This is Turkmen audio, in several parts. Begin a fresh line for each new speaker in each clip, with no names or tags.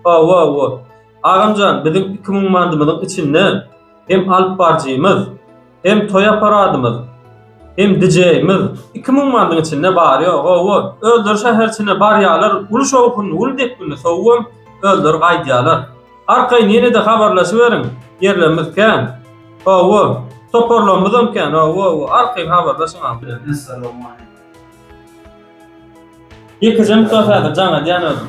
Hawa, hawa. Agamjan, biziň iki müň mantymyzyň içinde hem alyp baryjymyz, hem toý apparatymyz, hem dijeýimiz iki müň mantyň içinde bar-ýo, hawa. Özleri şäherçene barýarlar, uly şowhunly, uly depginli sowugam, özleri gaýdýarlar. Arkaýyn ýene-de habarlaşyberiň, ýerlerimiz kän. Hawa. Toparlarymyzam kän, hawa, hawa. Arkaýyn habarlaşyň, agam. Ýekeje mydama
häzir
jaň edýän özüm.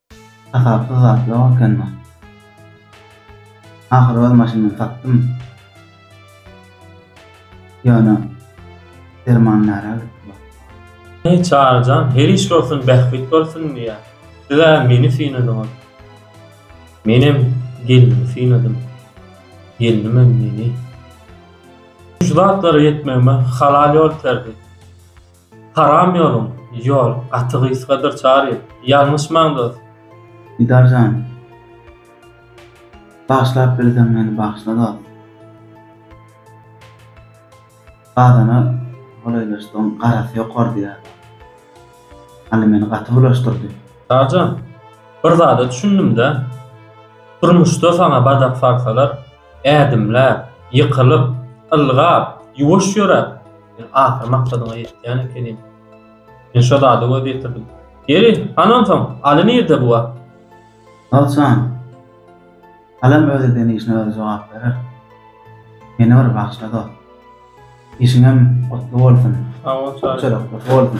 Hasapsyz zat ýok ekeni. Ahyry öz maşynymy satdym. Ýöne derman närä gitdi baky. Heý
Çaryjan her iş bolsun bähbit bolsun diýä. Sizä meni synadyňyz. Menem gelnimi synadym. Gelnimem meni. Şu zatlara ýetmegime halal ýol terdi. Haram ýoluň, ýol, gaty gysgadyr Çary. Ýalňyşmaň dos. Didar jan.
Bagyşlap bilseň meni bagyşla dos. Bazana golaýlaşdygyň garasy ýokardy ýa. Anna meni gaty bulaşdyrdy. Çary jan.
Bir zada düşündimdä. Durmuşda saňa badak salsalar, ädimläp, ýykylyp, ylgap, ýuwaş ýöräp, Men ahyr maksadyňa ýetýän ekenim. Men şo zady göz ýetirdim. Ýeri, han onsoň, Aly nirde bu wagt? Al jan.
Alam öz eden işine özi jogap berer. Meni bir bagşla dost. Işiňem gutly bolsun. Sag
bol Çary.
Köpçülik
gutly bolsun.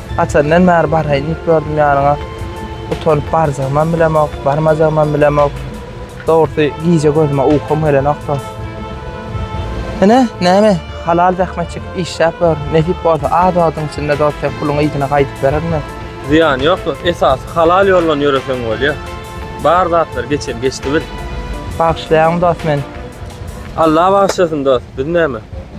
Haçandan bäri baraýyn diýip ýördüm ýanyňa. Utanyp barjagymam bilemok, barmajagymam bilemok. Dogrusy, gije gözüme ukum gelenokdy. Ine, näme, halal zähmet çekip işläp ýör. Nesip bolsa, az wagtyň içinde dost sen puluňy yzyna gaýdyp bererin men. Zyýany ýok dost,
esasy halal ýoldan ýöreseň bolýar. Bar zatlar geçen geçdi bil. Bagyşlaýaryn
dost men. Alla
bagyşlasyn dost, biz näme.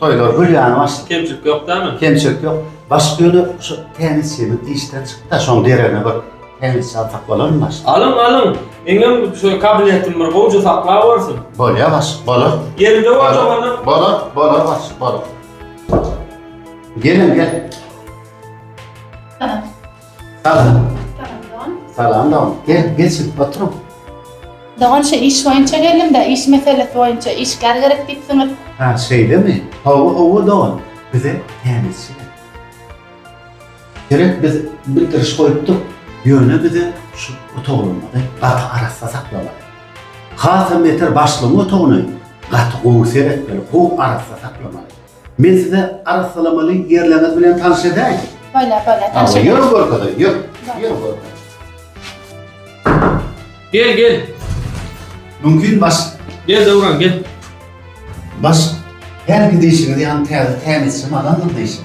Toýlar gül ýaly
başlady. Kemçilik ýok dämi?
Kemçilik ýok. Başga
ýöne şu tennisçimiz işden çykdy-da, şoň deregine bir tennisçi alsak bolarmy başlyk? Alyň, alyň. Eňem
şo kabinetim bir gowja saklap orsyn. Bolýar başlyk, bolar.
Ýerinde boljak onda.
Bolar, bolar başlyk,
bolar. Geliň, gel. Salam. Salam dogan. Salam dogan. Gel, geç, otur. Dogan
şu iş boýunça geldim-de, iş meselesi boýunça işgär gerek diýipsiňiz. Ha, şeýlemi?
Hawa, hawa dogan. Bize tälimçi gerek. Gerek biz bildiriş goýupdyk, ýöne bize şu otaglarymyzy gaty arassa saklamaly. Hasam beter başlygyň otagyny gaty gowy seretmeli, gowy arassa saklamaly. Men size arassalamaly ýerleriňiz bilen tanyş edäýin. Bolýar, bolýar, tanyş
edäýiň. Ýör
görkezäýin, ýör.
Ýör
görkezäýin.
Gel, gel.
Mümkin baş. Gel Döwran, gel.
Baş,
hälki diýşiňiz ýaly täze tämizçi magamdyr diýşiň.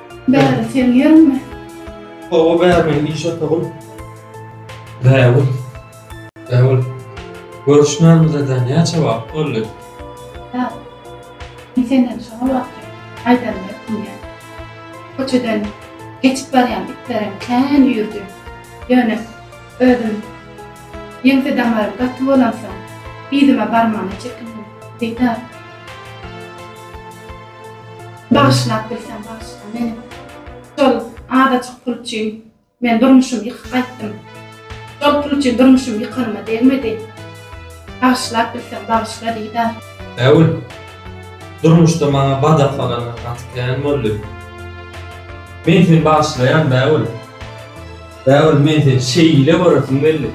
Bäri sen ýermi? Hawa
bäri iş otagym. Bägül. Bägül. Görüşmänimize-de näçe wagt boldy? Bägül.
Men senden şo wagty aýdanymy etmeýän. Köçeden geçip barýan itlerem kän üýrdi. Ýöne özüm ýeňse damarym gaty bolansoň, yzyma barmagyna çekindim. Beýdar. Bagyşlap bilseň bagyşla meni. Şol azajyk pul üçin men durmuşymy ýykyp gaýtdym. Şol pul üçin durmuşym ýykanyma degmedi. Bagyşlap bilseň bagyşla Didar. Äwül,
durmuşda maňa badahlalaryň gaty kän boldy. Men seni bagyşlaýan Bägül. Bägül men seni şeýle göresim geldi.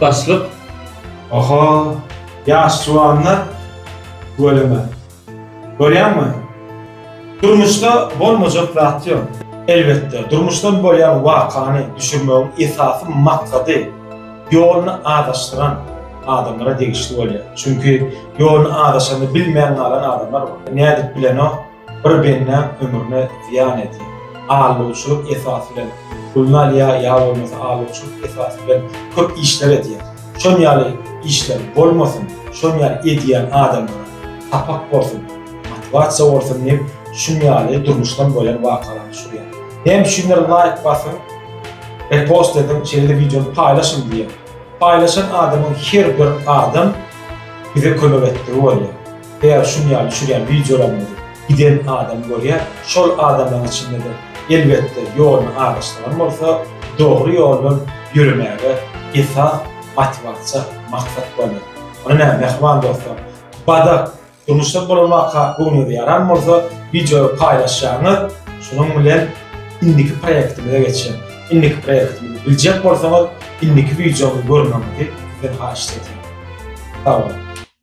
Başlyk,
Oho, ýaş juwanlar tüweleme. Görýäňmi? Durmuşda bolmajak zat ýok. Elbetde, durmuşdan bolýan wakany düşürmegiň esasy maksady ýoluny azaşdyran adamlara degişli bolýar. Çünki ýoluny azaşany bilmän galan adamlar bar. Nädip bilenok? Bir bendäň ömrüne zyýan edýär. Alawçylyk esasy bilen puluny alýar ýa bolmasa alawçylyk esasy bilen köp işler edýär. Şon ýaly işler bolmasyn, şon ýaly edýän adamlara sapak bolsun, motiwasiýa bolsun diýip şun ýaly durmuşdan bolan wakalar düşürýär. Näme üçindir laýk basyň, repost ediň, şeýle-de wideony paýlaşyň diýýär. Paýlaşan adamyň her bir adam bize kömek etdigi bolýar. Eger şun ýaly düşürýän wideolaryňyzy giden adam görýär, şol adamlaryň içinde-de elbetde ýoluny azaşdyran bolsa, dogry ýoldan ýöremäge esas motiwasiýa, maksat bolýar. Onda näme mähriban dostlar? Badak, durmuşda bolan waka göwnüňize ýaran bolsa, wideoy paýlaşýaňyz, şunuň bilen indiki proýektimize geçýän. Indiki proýektimizi biljek bolsaňyz, indiki wideomy görmegiňizi sizden haýyşt edýän. Sag boluň.